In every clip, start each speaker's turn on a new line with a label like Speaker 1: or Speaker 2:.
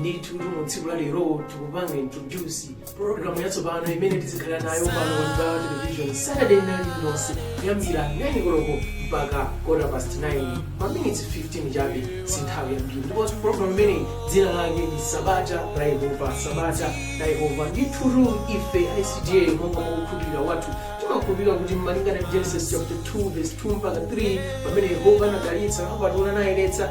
Speaker 1: ndithutu mu tsiku la lero tikupanga introduce program yatsopano imene tizikhala nayo pano pa Mibawa television saturday night iliyonse kuyambira 9 koloko mpaka quarter past 9 ma minutes 15 chabe si nthawi yambiri ndipo program imeneyi dzina lake ndi sabata la yehova sabata la yehova ndithutu ife icda monga mwa kukhulupirira kwathu timakhulupirira kuti malingana ndi genesis chapter 2 verse 2 mpaka 3 pamene yehova anadalitsa apatula nayeretsa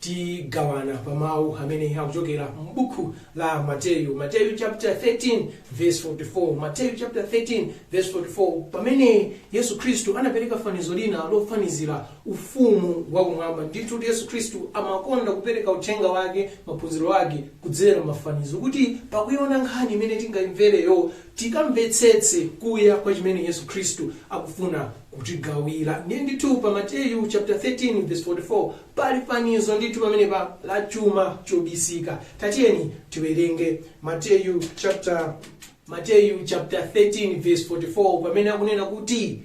Speaker 1: Tigawana pa mawu amene akuchokera m'buku la Mateyu, Mateyu chapter 13 verse 44. Mateyu chapter 13 verse 44, pamene Yesu Khristu anapereka fanizo lina lofanizira ufumu wa kumwamba. Ndithutu Yesu Khristu amakonda kupereka uthenga wake, maphunziro ake kudzera m'mafanizo kuti pakuiona nkhani imene tingaimvereyo tikamvetsetse kuya kwa chimene Yesu Khristu akufuna kutigawira. Ndiye ndithu pa Mateyu chapter 13 verse 44 Pali fanizo ndithu pamenepa la chuma chobisika. Tatiyeni tiwerenge Mateyu chapter 13 verse 44 pamene akunena kuti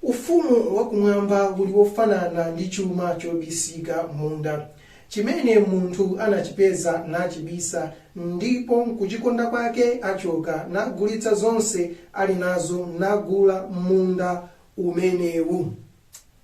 Speaker 1: ufumu wakumwamba uli wofanana ndi chuma chobisika m'munda chimene munthu anachipeza nachibisa ndipo m'kuchikonda kwake achoka nagulitsa zonse ali nazo nagula munda umenewu.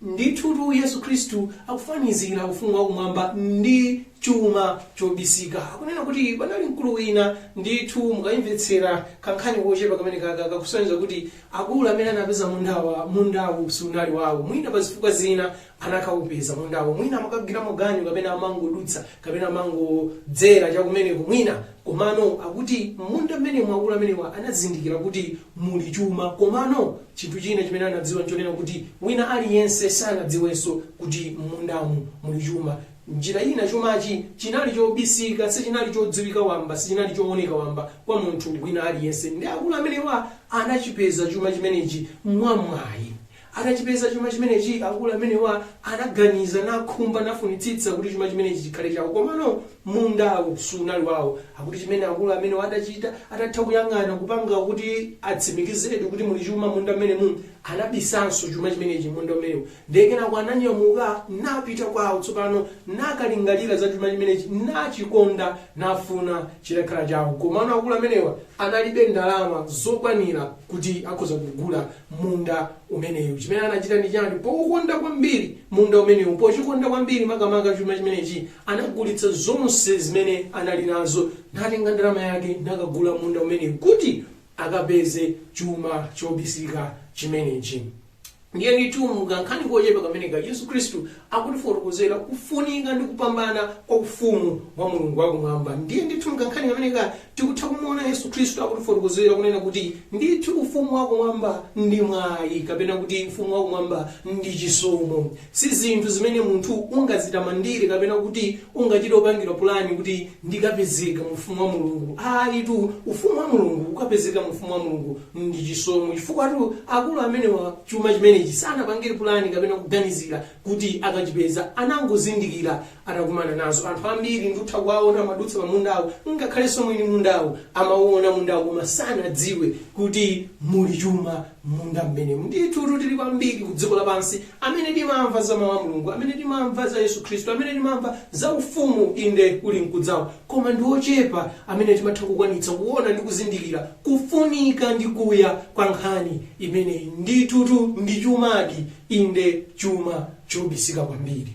Speaker 1: Ndithutu Yesu Kristu akufanizira Ufumu wakumwamba ndi chuma chobisika. Akunena kuti panali mkulu wina. Ndithu, mukaimvetsera kankhani kochepa kamenekaka, kakusonyeza kuti akulu amene anapeza mundawa, mundawu sunali wawo. Mwina pazifukwa zina anakaupeza mundawo. Mwina amakagwiramo ganyu kapena amangodutsa kapena amangodzera chakumeneko mwina. Komano akuti m'munda mmenemu akulu amenewa anazindikira kuti muli chuma komano Chinthu china chimene anadziwa n'chonena kuti wina aliyense sanadziwenso kuti m'mundamu muli chuma. M'njira ina chumachi chinali chobisika, sichinali chodziwika wamba, sichinali chooneka wamba kwa munthu wina aliyense. Ndiye akulu amenewa anachipeza chuma chimenechi mwamwayi. Atachipeza chuma chimenechi, akulu amenewa anaganiza, nakhumba, nafunitsitsa kuti chuma chimenechi chikhale chawo. Komano Mundawo sunali wawo. Akuti chimene akulu amenewa adachita, atatha kuyang'ana kupanga kuti atsimikizedi kuti muli chuma m'munda mmenemu, anabisanso chuma chimenechi m'munda umenewu. Ndiye kenako ananyamuka napita kwawo tsopano nakalingalira za chuma chimenechi nachikonda nafuna chitakhala chawo. Komano akulu amenewa analibe ndalama zokwanira kuti akhoza kugula munda umenewu. Chimene anachita ndi chani? Poukonda kwambiri munda umenewu, pochikonda kwambiri makamaka chuma chimenechi, Anagulitsa zonse zimene anali nazo, natenga ndalama yake nakagula munda umenewu kuti akapeze chuma chobisika chimenechi. Ndiye ndithu mu kankhani kochepa kameneka, Yesu Khristu akutifotokozera kufunika ndi kupambana kwa ufumu wa Mulungu wakumwamba. Ndiye ndithu mu kankhani kameneka tikutha kumuona Yesu Khristu akutifotokozera kunena kuti ndithu ufumu wakumwamba ndi mwayi kapena kuti ufumu wakumwamba ndi chisomo. Si zinthu zimene munthu ungadzitamandire kapena kuti ungachite kupangira pulani kuti ndikapezeka mu Ufumu wa Mulungu. Ayitu, Ufumu wa Mulungu, kukapezeka mu Ufumu wa Mulungu ndi chisomo. Chifukwatu akulu amenewa chuma chimenechi sanapangire pulani kapena kuganizira kuti akachipeza. Anangozindikira atakumana nazo. Anthu ambiri ndutha kuwaona amadutsa pa mundawo, ngakhalenso mwini mundawu amawuona mundawu koma sanadziwe kuti muli chuma. m'munda mmenemu. Ndithutu tili ambiri ku dziko lapansi amene timamva za Mawu a Mulungu, amene timamva za Yesu Khristu, amene timamva za Ufumu, inde, ulinkudzawo, koma ndi ochepa amene timatha kukwanitsa kuona ndi kuzindikira kufunika ndi kuya kwa nkhani imeneyi. Ndithutu ndi chumadi, inde, chuma chobisika kwambiri.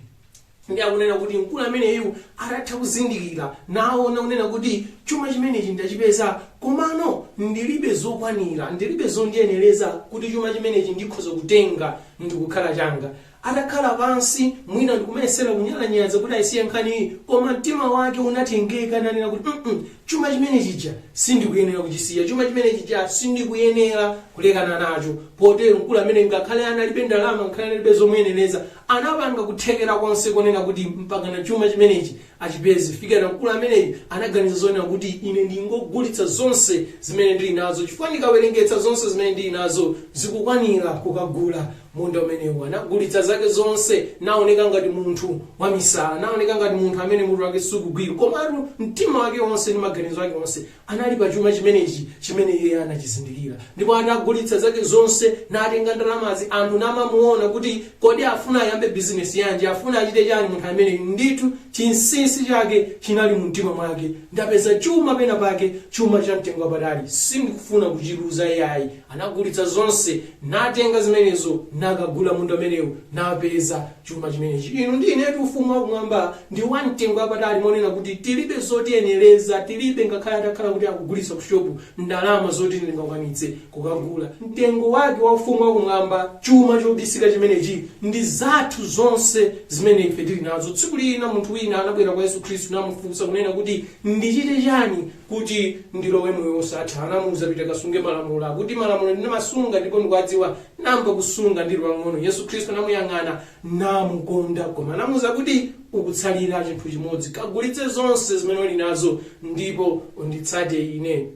Speaker 1: Ndiye akunena kuti mkulu ameneyu atatha kuzindikira naona kunena kuti chuma chimenechi ndachipeza komano ndilibe zokwanira, ndilibe zondiyenereza kuti chuma chimenechi ndikhoza kutenga ndikukhala changa. Atakhala pansi mwina ndikumayesera kunyalanyaza kuti ayisiye nkhaniyi koma mtima wake unatengeka nanena kuti mm chuma chimene chija sindikuyenera kuchisiya, chuma chimene chija sindikuyenera kulekana nacho. Potero mkulu ameneyu ngakhale analibe ndalama ngakhale analibe zomuyenereza Anapanga kuthekera konse konena kuti mpakana chuma chimenechi achipeze, kufikira mkulu ameneyu anaganiza zonena kuti, Ine ndingogulitsa zonse zimene ndili nazo, chifukwa ndikawerengetsa zonse zimene ndili nazo zikukwanira kukagula munda umenewu. Anagulitsa zake zonse, naoneka ngati munthu wamisala, naoneka ngati munthu amene mutu wake sukugwira. Komatu mtima wake wonse ndi maganizo ake onse anali pa chuma chimenechi chimene iye anachizindikira. Ndipo anagulitsa zake zonse, natenga ndalamazi, anthu namamuona kuti kodi afuna ayambe bizinesi yanji, afuna achite chani munthu ameneyu. Ndithu chinsinsi chake chinali mu mtima mwake. Ndapeza chuma pena pake, chuma cha mtengo wapatali. Sindikufuna kuchiluza iyayi. Anagulitsa zonse, natenga zimenezo, nakagula munda umenewu, napeza. chuma chimenechi. Inu ndi inetu Ufumu wa Kumwamba ndi wa mtengo wapatali monena kuti tilibe zotiyenereza, tilibe ngakhale atakhala kuti akugulitsa ku shopu ndalama zoti ndingakwanitse kukagula. Mtengo wake wa Ufumu wa Kumwamba, chuma chobisika chimenechi, ndi zathu zonse zimene ife tili nazo. Tsiku lina munthu wina anabwera kwa Yesu Khristu namufunsa kunena kuti, Ndichite chani kuti ndilowe moyo wosatha? Anamuuza, Pita kasunge malamulo, akuti malamulo ndimasunga ndipo ndikuwadziwa. Ndayamba kusunga ndili wamng'ono. Yesu Khristu anamuyang'ana namukonda koma anamuuza kuti, Ukutsalira chinthu chimodzi. Kagulitse zonse zimene uli nazo ndipo unditsate ine.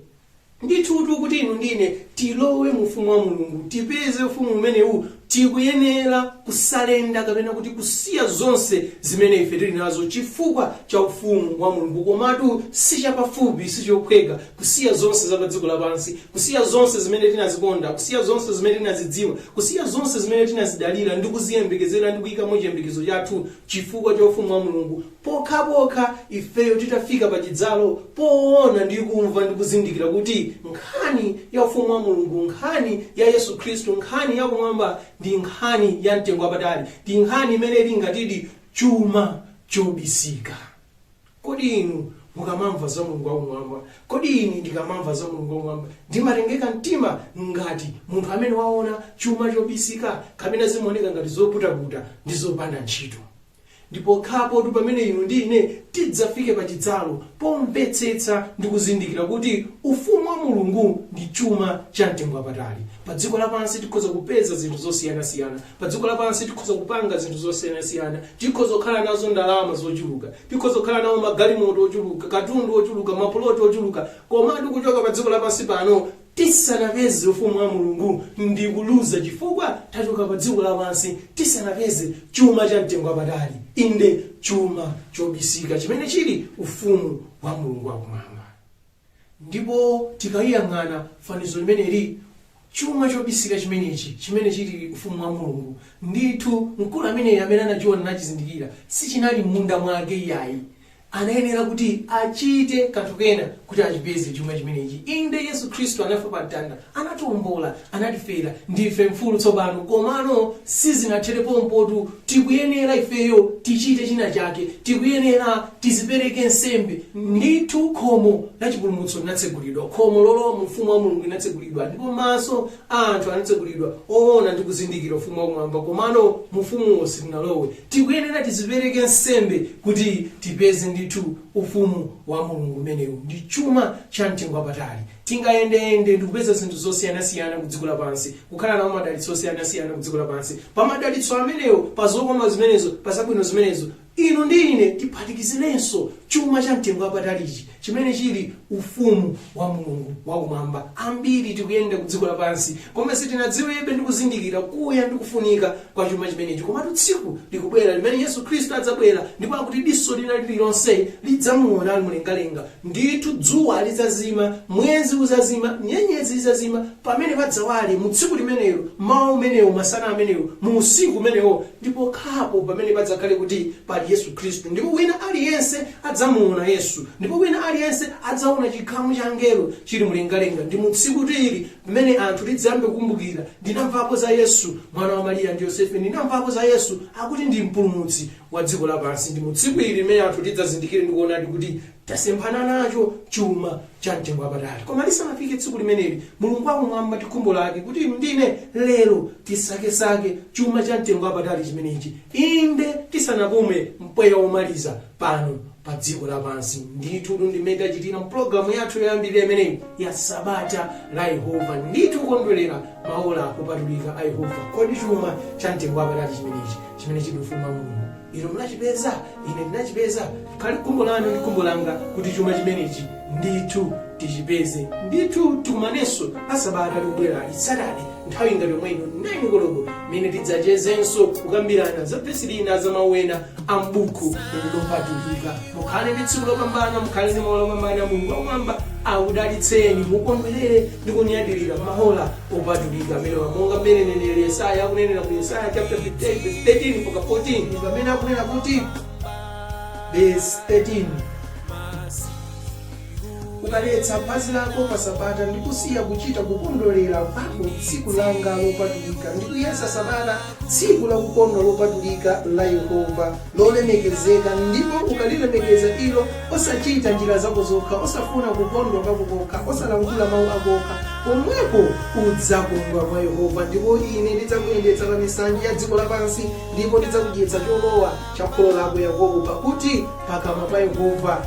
Speaker 1: Ndithudi kuti inu ndi ine tilowe mu Ufumu wa Mulungu, tipeze Ufumu umenewu, tikuyenera kusalenda kapena kuti kusiya zonse zimene ife tili nazo chifukwa cha Ufumu wa Mulungu. Komatu sichapafupi, sichophweka. kusiya zonse za padziko lapansi, kusiya zonse zimene tinazikonda, kusiya zonse zimene tinazidziwa, kusiya zonse zimene tinazidalira ndi kuziyembekezera ndi kuyikamo chiyembekezo chathu chifukwa cha ufumu wa Mulungu, pokhapokha ifeyo titafika pa chidzalo poona ndi kumva ndi kuzindikira kuti nkhani ya ufumu wa Mulungu, nkhani ya Yesu Khristu, nkhani ya kumwamba ndi nkhani ya mtengo wapatali, ndi nkhani imene ili ngatidi chuma chobisika. Kodi inu mukamamva za Mulungu Wakumwamba? Kodi ine ndikamamva za Mulungu Wakumwamba ndimatengeka mtima ngati munthu amene waona chuma chobisika, kapena zimaoneka ngati zoputaputa ndi zopanda ntchito? Ndi pokhapotu pamene inu ndi ine tidzafike pa chidzalo pomvetsetsa ndi kuzindikira kuti Ufumu wa Mulungu ndi chuma chamtengowapatali. Padziko lapansi tikhoza kupeza zinthu zosiyanasiyana, Padziko lapansi tikhoza kupanga zinthu zosiyanasiyana. Tikhoza kukhala nazo ndalama zochuluka. Tikhoza kukhala nawo magalimoto ochuluka, katundu wochuluka, mapuloti ochuluka. Komatu kuchoka padziko lapansi pano tisanapeze Ufumu wa Mulungu ndi kuluza chifukwa tachoka padziko lapansi tisanapeze chuma chamtengo wapatali, inde chuma chobisika chimene chili Ufumu wa Mulungu wakumwamba. Ndipo tikaliyang'ana fanizo limeneli, chuma chobisika chimenechi, chimene chiri Ufumu wa Mulungu, ndithu, mkulu ameneyu amene anachiwona nachizindikira, sichinali mmunda mwake iyayi. Anayenera kuti achite kanthu kena kuti achipeze chuma chimenechi. Inde, Yesu Khristu anafa pa mtanda Anatiombola, anatifera, ndife mfulu tsopano. Komano sizinathere pompotu. Tikuyenera ifeyo tichite china chake. Tikuyenera tizipereke nsembe. Ndithu khomo la chipulumutso linatsegulidwa. Khomo lolowa mu Ufumu wa Mulungu linatsegulidwa ndipo maso a anthu anatsegulidwa oona ndi kuzindikira Ufumu wa Kumwamba. Komano mu Ufumuwo sitinalowe. Tikuyenera tizipereke nsembe kuti tipeze ndithu Ufumu wa Mulungu umenewu. Ndi chuma cha mtengo wapatali. Tingayendeyende ndi kupeza zinthu zosiyanasiyana kudziko lapansi, kukhala nawo madalitso osiyanasiyana kudziko lapansi. Pa madalitso amenewo, pa zokoma zimenezo, pa zabwino zimenezo, inu ndi ine tiphatikizirenso chuma cha mtengo wapatali ichi, chimene chiri Ufumu wa Mulungu wa Kumwamba. Ambiri tikuyenda kudziko lapansi, koma sitinadziwebe ndi kuzindikira kuya ndi kufunika kwa chuma chimenechi. Komatu tsiku likubwera limene Yesu Khristu adzabwera, ndipo akuti diso lina liri lonse lidzamuona ali mlengalenga. Ndithu dzuwa lidzazima, mwezi udzazima, nyenyezi zidzazima, pamene padzawale, mu tsiku limenelo, mmawa umenewo, masana amenewo, mu usiku umenewo, ndi pokhapo pamene padzakhale kuti pali Yesu Khristu. Ndipo wina aliyense adzamuwona Yesu, ndipo wina aliyense adzawona chikhamu cha angelo chiri mlengalenga. Ndi mu tsiku ili pamene anthu tidzayambe kukumbukira, Ndinamvapo za Yesu, mwana wa Mariya ndi Yosefe, ndinamvapo za Yesu, akuti ndi Mpulumutsi. wa dziko lapansi, ndi mu tsiku ili limene anthu tidzazindikire ndi kuonadi kuti tasemphana nacho chuma cha mtengo wapatali. Koma lisanafike tsiku limeneli, Mulungu wam'mwambamwamba ndi khumbo lake kuti inu ndi ine lero tisakesake chuma cha mtengo wapatali chimenechi, inde tisanapume mpweya womaliza pano padziko lapansi. Ndithutu ndi mmene tachitira m'pulogalamu yathu yoyambirira imeneyi ya Sabata la Yehova. Ndithu kukondwerera maola opatulika a Yehova. Kodi chuma cha mtengo wapatali chimenechi chimene chili ufumu wa Mulungu inu munachipeza? Ine ndinachipeza. Likhale khumbo lanu ndi khumbo langa kuti chuma chimenechi ndithu tichipeze. Ndithu tikumanenso la Sabata likubwerali, Saturday, nthawi ngati yomwe ino 9 koloko, mmene tidzachezenso, kukambirana za vesi lina, za mawu ena a m'Bukhu ili Lopatulika. Mukhale ndi tsiku lopambana, mukhale ndi maola opambana. Mulungu wakumwamba akudalitseni, mukondwerere ndi kunyadirira maola opatulika amenewa, monga mmene neneri Yesaya akunenera ku Yesaya chapter 58 verse 13 mpaka 14 ndi pamene akunena kuti verse 13 Ukaletsa phazi lako pa Sabata ndi kusiya kuchita kukondwerera kwako tsiku langa lopatulika, ndi kuyesa Sabata tsiku lakukondwa lopatulika la Yehova, lolemekezeka, ndipo ukalilemekeza ilo, osachita njira zako zokha, osafuna kukondwa kwako kokha, osalankhula mawu ako okha, pomwepo udzakondwa mwa Yehova, ndipo ine ndidzakuyendetsa pa misanje ya dziko lapansi, ndipo ndidzakudyetsa cholowa cha kholo lako Yakobo, pakuti pakamwa pa Yehova